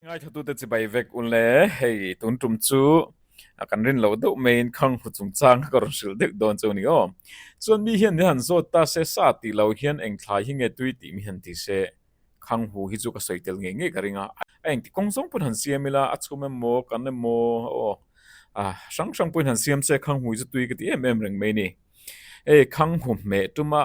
Ngaithatute chibai vek un le, hei tun tum chu kan rin lo deuh mai in khang hru chung chang kha ka rawn hrilh deuh dawn chu a ni aw. Chuan mi hian nihan zawt ta se sa tih lo hian eng thlai hi nge tui tih mihan ti se. Khang hru hi chu ka sawi tel ngei ngei ka ring a, a engti kawng zawng pawhin han siam ila a chhum emaw kan emaw aw a hrang hrang pawhin han siam se khang hru hi chu tui ka ti em em reng mai a ni. Hei khang hru hmeh tuma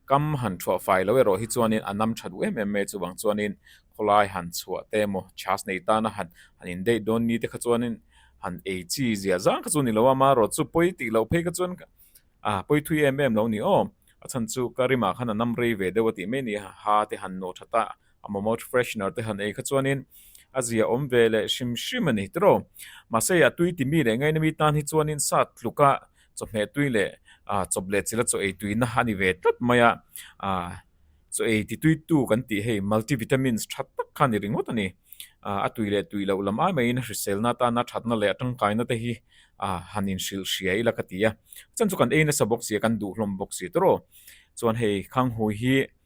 Kam han chhuah fai lo erawh hi chuan in a nam tha duh em em mai chuvang chuan in khawlai han chhuah te emaw chas nei tana han han in date dawn ni te kha chuan in han ei chi zia zang kha chu ni lo a ma rawt chu pawi tih loh phei kha chuan a pawi thui em em lo ni awm a chhan chu ka rim ah khan a nam rei ve deuh a tih mai ni a ha te han nawh tha ta A mamawt freshener te han ei kha chuanin a zia awm ve leh hrim hrim a ni. Tiraw? Mahse, a tui ti mi leh ngaina mi tan hi chuanin sat tluka chawhmeh tui leh chawp leh chila chaw ei tuina a ni ve tlat mai a. Chaw ei ti tuitu kan tih hei multivitamins that tak kha a ni ringawt a ni. A tui leh tui loh lam ai maiin hriselna atana thatna leh a tangkaina te hi han inhrilh hria ila ka ti a. Chhan chu kan ei nasa bawk si a, kan duh hlawm bawk si. Tiraw? Chuan hei khanghui hi.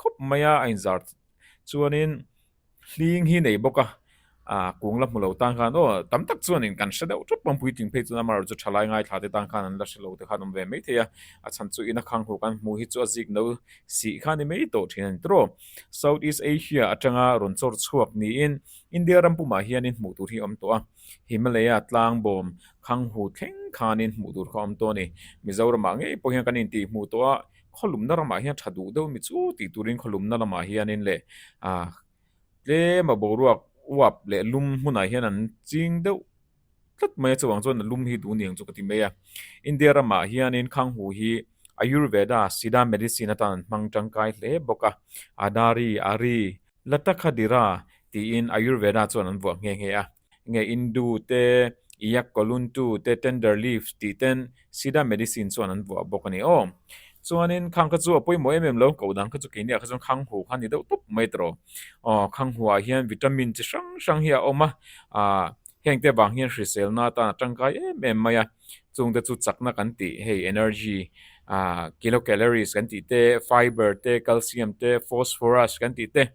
khawp mai a a inzar chuanin hling hi nei bawk a ah kung la hmu lo tan khan aw tam tak chuan in kan hre deuh thup a puitling phei chuan amarawhchu tha lai ngai thla te tan khan an la hre lo te khan awm ve mai thei a a chhan chu in a khang hu kan hmu hi chu a zik no si kha ni mai tawh thin a ni tawrh a south east asia atanga rawn chawr chhuak niin India ram pumah hianin hmuh tur hi awm tawh a Himalaya tlang bawm khang hu thleng khanin hmuh tur kha awm tawh a ni Mizoramah ngei pawh hian kan intih hmuh tawh a. khawlumna ramah hian tha duh deuh mi chu tih turin khawlumna lamah hianin leh ah tlem a boruak uap leh lum hmunah hian an ching deuh tlat mai a chuvang chuan lum hi duh niang chu ka ti mai a India ramah hianin khanghu hi ayurveda siddha medicine atan an hmang tangkai hle bawk a adari ari latakha dira tiin ayurveda chuan an vuah nghe nghe a. Enge Indu te, Iyak Koluntu te, Tender Leaves tih ten Sida Medicine chuan an vuah bawk a ni aw. Chuanin khang kha chu a pawimawh em em lo, koh dan kha chu keini ah kha chuan khang hu kha a ni deuh tawp mai ta raw. Aw khang hu ah hian Vitamin chi hrang hrang hi a awm a, ah hengte vang hian hrisel na atan a tangkai em em mai a, chung te chu chakna kan tih hei Energy, ah Kilocalories kan tih te, Fibre te, Calcium te, Phosphorous kan tih te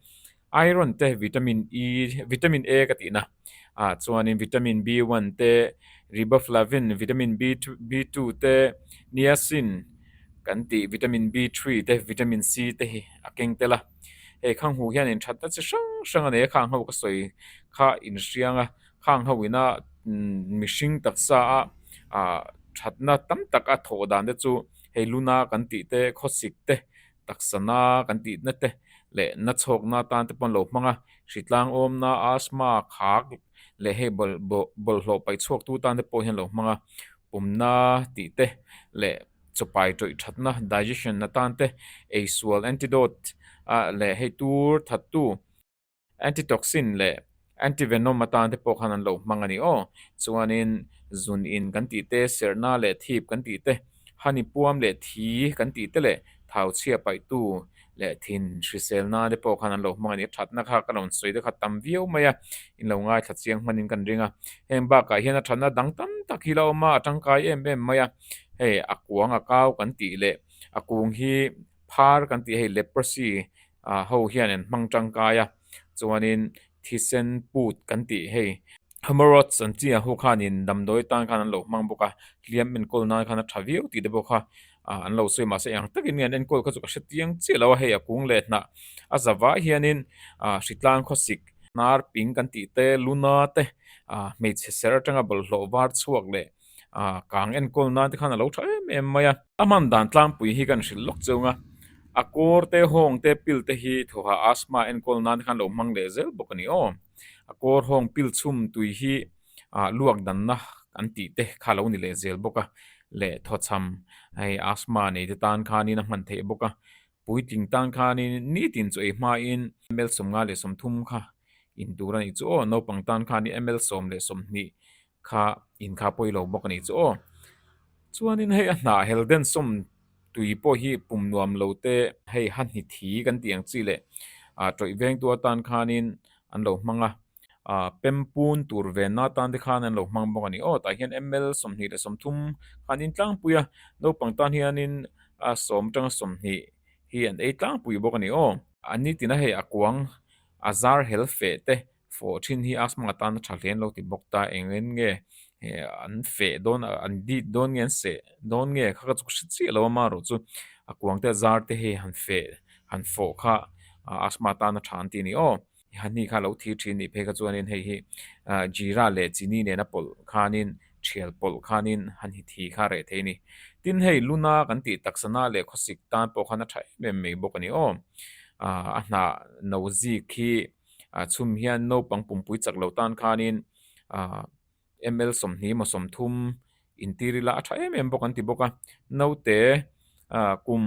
Iron te vitamin E vitamin A ka tihna ah chuanin vitamin B one te riboflavin vitamin B B two te niacin kan tih vitamin B three te vitamin C te hi a keng tel a hei khang hu hian inthatna chi hrang hrang a nei a khang ho ka sawi kha inhriang a khang ho ina mihring taksa a ah thatna tam tak a thawh dan te chu hei luna kan tih te khawsik te Taksa na kan tih na te leh na chhawk na tan te pawh an lo hmang a, hri tlang awm na, asthma, khak leh hei bawlhhlawh paih chhuak tu tan te pawh hi an lo hmang a, pum na tih te leh chawpai tawih that na, digestion na tan te, eisual, antidote, a leh hei tur that tu, Antitoxin leh antivenom atan te pawh khan an lo hmang a ni aw. Chuanin zun in kan tih te, serhna leh thip kan tih te, honey puam leh thi kan tih te leh thau chhia paih tu leh thin hrisel nan te pawh khan an lo hmang a ni. Thatna kha ka rawn sawi te kha tam viau mai a, in lo ngaithla chiang hman in kan ring a. Heng bakah hian a thatna dang tam tak hi la awm a, a tangkai em em mai a. Hei a kuang a kau kan tih leh a kung hi Phar kan tih hei leprosy ho hian an hmang tangkai a, chuanin thisen put kan tih hei hemorrhoids an chi a ho khan in damdawi tan khan an lo hmang bawk a, hliam enkawl nan khan a tha viau tih te pawh kha an lo sawi mahse eng takin nge an enkawl kha chu ka hre chiang chiah lo a, hei a kung leh hnah a za vai hianin hritlang khawsik, nar ping kan tih te, luna te, hmeichhe ser atanga bawlhhlawh var chhuak leh. ah kang enkawl nan te khan a lo tha em em mai a a hman dan tlangpui hi kan hrilh lawk chung a a kawr te hawng te pil te hi thawha asthma enkawl nan te khan lo hmang leh zel bawk a ni awm a kawr hawng pil chhum tui hi ah luak dan na an tih te kha a lo ni leh zel bawk a leh thaw chham hei asthma nei te tan khan in a hman theih bawk a puitling tan khan in nitin chu ei hma in ml sawmnga leh sawmthum kha in tur a nih chu aw naupang tan khan in ml sawm leh sawmhnih kha in kha pawi lo bawk a nih chu aw. Chuanin hei a hnah helden sawm tui pawh hi pum nuam lo te hei ha hni thi kan tih ang chi leh a tawih veng tu atan khanin an lo hmang a, a pem pun tur ven na tan te khan an lo hmang bawk a ni aw. Tah hian ml sawmhnih leh sawmthum khan in tlangpui a, naupang tan hianin a sawm atanga sawmhnih hi an ei tlangpui bawk a ni aw. An ni tina hei a kuang a zar hel feh te Fawhṭhin hi asthma atan a ṭha hle an lo ti bawk ta, eng en nge an feh dawn a, an dît dawn nge an seh dawn nge kha ka chu ka hre chiah lo a, amaherawh chu a kuang te a zar te hi han feh han fawh kha asthma atan a ṭha an ti a ni aw. A hnih kha a lo thîr ṭhin anih phei kha chuanin hei hi Jeera leh Chini nena pawlh khanin ṭhial pawlh khanin han hit hi kha a reh thei a ni. Tin, hei Luna kan tih taksana leh khawsik tan pawh khan a ṭha em em mai bawk a ni aw. A hna no zîk hi a chhum hian naupang pumpui chak lo tan khanin ahh ml sawmhnih emaw sawmthum intir ila a tha em em bawk an ti bawk a naute ahh kum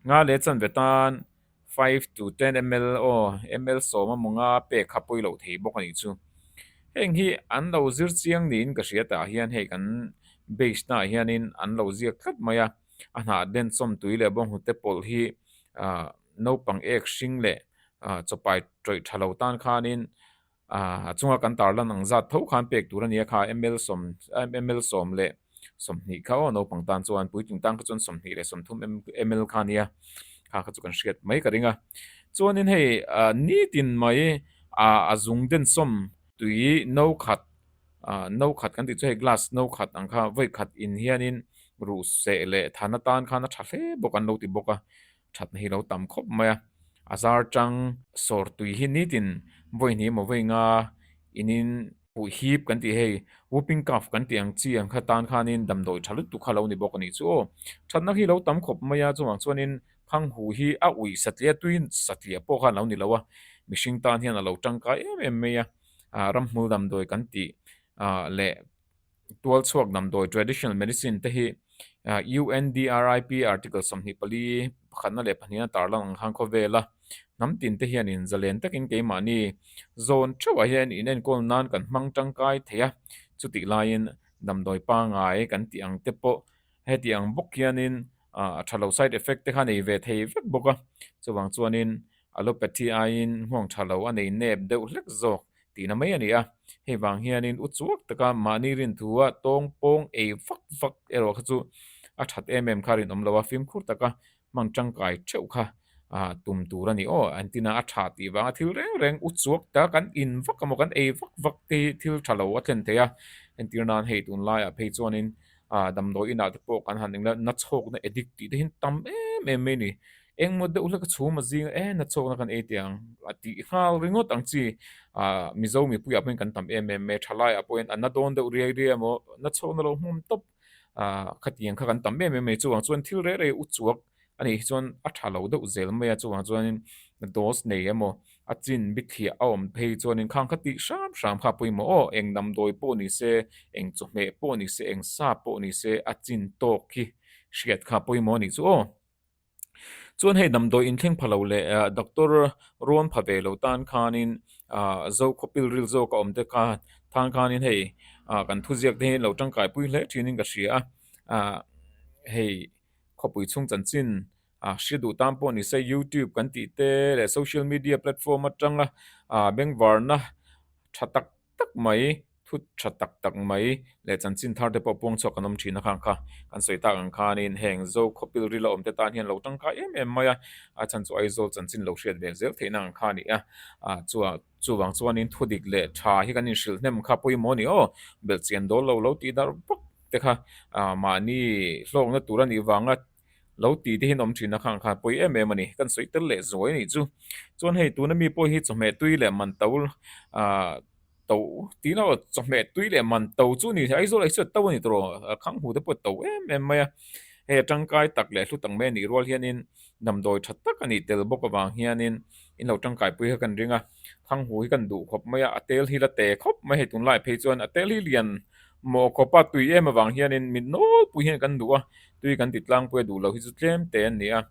nga leh chanve tan five to ten ml aw ml sawm emaw nga pek kha pawi loh thei bawk a nih chu heng hi an lo zir chiang niin ka hria tah hian hei kan base hnah hianin an lo ziak tlat mai a. a hnah den chawmtui leh bawng hnute pawlh hi ah naupang ek hring leh ah chawpai tawih tha lo tan khanin ah a chunga kan tar lan ang zat tho khan pek tur a ni a kha ml sawm ml sawm leh sawmhnih kha aw naupang tan chuan puitling tan kha chuan sawmhnih leh sawmthum ml kha a nia kha kha chu kan hriat mai ka ring a chuanin hei ah nitin mai ah a zung den chawmtui no khat. Ahh no khat kan tih chu hei glass no khat ang kha vawi khat in hianin ruhseh leh than atan khan a tha hle bawk an lo ti bawk a thatna hi lo tam khawp mai a a zar tang sawr tui hi nitin vawi hnih emaw vawi nga inin puih hip kan tih hei whooping cough kan tih ang chi ang kha tan khanin damdawi tha lutuk kha lo ni bawk a nih chu aw thatna hi lo tam khawp mai a chungah chuanin phanghu hi a ui satliah a tui satliah pawh khan lo ni lo a mihring tan hian a lo tangkai em em mai a. ah ramhmul damdawi kan tih ah leh tualchhuak damdawi traditional medicine te hi UNDRIP article sawmhnih pali pakhatna leh pahniha tarlo ang khan khawvel a hnam tinte hian in zalen takin keimahni zawn theuhah hian in enkawl nan kan hmang tangkai thei a chutihlaiin damdawi pangai kan tih ang te pawh Heti ang bawk hianin a tha lo side effect te kha nei ve thei vek bawk a, chuvang chuanin allopathy aiin hmuang tha lo a nei nep deuh hlek zawk tihna mai a ni a. Hei vang hianin u chuak taka mahni rinthuha tawng pawng ei vak vak erawh kha chu a that em em kha a rinawm lo a, fimkhur taka hmang tangkai theuh kha tum tur a ni aw entina a tha tih vanga thil reng reng u chuak ta kan in vak emaw kan ei vak vak te hi thil tha lo a thlen thei a entir nan hei tun laiah phei chuanin ah damdawi inah te pawh kan han engleh nachhawkna edik tih te hi an tam em em mai a ni engmaw deuh hleka chhum a zing a eh nachhawkna kan ei teh ang a tih nghal ringawt ang chi ah mizo mipuiah pawhin kan tam em em mai a tha laiah pawhin a na dawn deuh riai riai emaw nachhawkna lo hmawm tawp. ah khatiang kha kan tam em em mai chungah chuan thil rei rei u chhuak a nih hi chuan a tha lo deuh zel mai a chungah chuanin dose nei emaw a chin bithiah a awm phei chuanin khang kha tih hram hram kha a pawimawh aw eng namdawi pawh ni se eng chawhmeh pawh ni se eng sa pawh ni se a chin tawk hi hriat kha a pawimawh a nih chu aw. Chuan hei damdawi inthleng pha lo leh doctor rawn pha ve lo tan khanin zo khawpil ril zawk a awm te kha tan khanin hei kan thuziak te hi lo tangkaipui hle thin ka hria a hei khawpui chhung chanchin a hre duh tan pawh ni se youtube kan tih te leh social media platform atanga beng varna tha tak-- tak mai, thut tha tak tak mai leh chanchin thar te pawh puang chhuak kan awm thin a khang kha. Kan sawi tak ang khanin heng zo khawpil ril a awm te tan hian lo tangkai em em mai a, a chhan chu Aizawl chanchin lo hriat ve zel theihna ang kha a ni a. Ah chuan chuvang chuanin thudik leh tha hi kan inhrilh hnem kha pawimawh a ni aw, belhchian dawl lo lo tih darh vak te kha mahni hlawkna tur a nih vanga Lo ti te hian awm thin a khang khan pawi em em a ni. Kan sawi tel leh zuai a nih chu. Chuan hei tuna mi pawi hi chawhmeh tui leh man to ah to tih lam chawhmeh tui leh man to chu ni leh aizawl aisawiat to a ni tawh a khang hu te pawh to em em mai a. Hei a tangkai tak leh a hlu tak mai a nih rual hian in damdawi that tak a nih tel bawk avang hian in. in lo tangkai pui kha kan ring a thang hu hi kan duh khawp mai a a tel hi la te khawp mai hei tun lai phei chuan a tel hi lian mawh khawp a tui em avang hian in min nawl pui hian kan duh a tui kan ti tlang pui a duh loh hi chu tlem te an ni a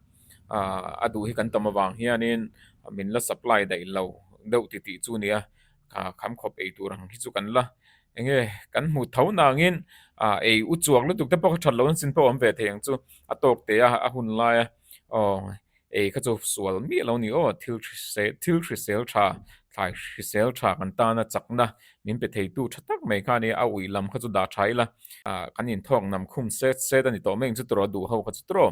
ah a duh hi kan tam avang hian in min la supply daih lo deuh ti tih chu a ni a ah kham khawp ei tur ang hi chu kan la eng nge kan hmu tho na ang in ah ei u chuak lutuk te pawh kha that lo in sin pawh awm ve thei ang chu a tawk te a a hun lai a aw. Ei kha chu sual miah lo ni aw, thil hrisel thil hrisel tha, thlai hrisel tha kan tana chakna min pe thei tu tha tak mai kha nia, a ui lam kha chu dah tha ila a kan in thawk nam khum set set a ni tawh mai ang chu turaw duh ho kha chu turaw.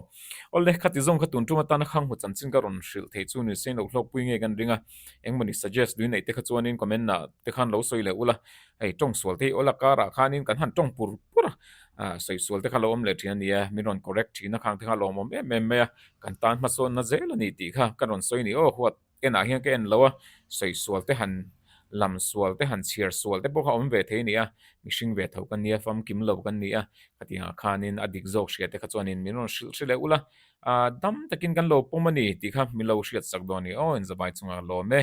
Aw le, khati zawng kha tun ṭum atana khang hmu chanchin ka rawn hrilh thei chu nise inlo hlawkpui ngei kan ring a, engmawni suggest dui neih te kha chuanin comment ah te khan lo sawi leh ula, hei ṭawng sual te hi aw la karah khanin kan han ṭawng pur pur a, a sawi sual te kha lo awm leh ṭhin ania, min rawn correct ṭhin a khang te kha a lawmawm em em mai a, Kan tan hmasawnna zel a ni tih kha ka rawn sawi ni aw, huat enah hian ka en lo a, sawi sual te han lam sual te han chhiar sual te pawh kha awm ve thei a ni a, mihring ve tho kan nia fam kim lo kan ni a, khatianga khanin a dik zawk hriate kha chuanin min rawn hrilh hrilh leh ula, a dam takin kan lo pawm a ni tih kha min lo hriatsak dawn ni aw, inzavai chunga lawm e.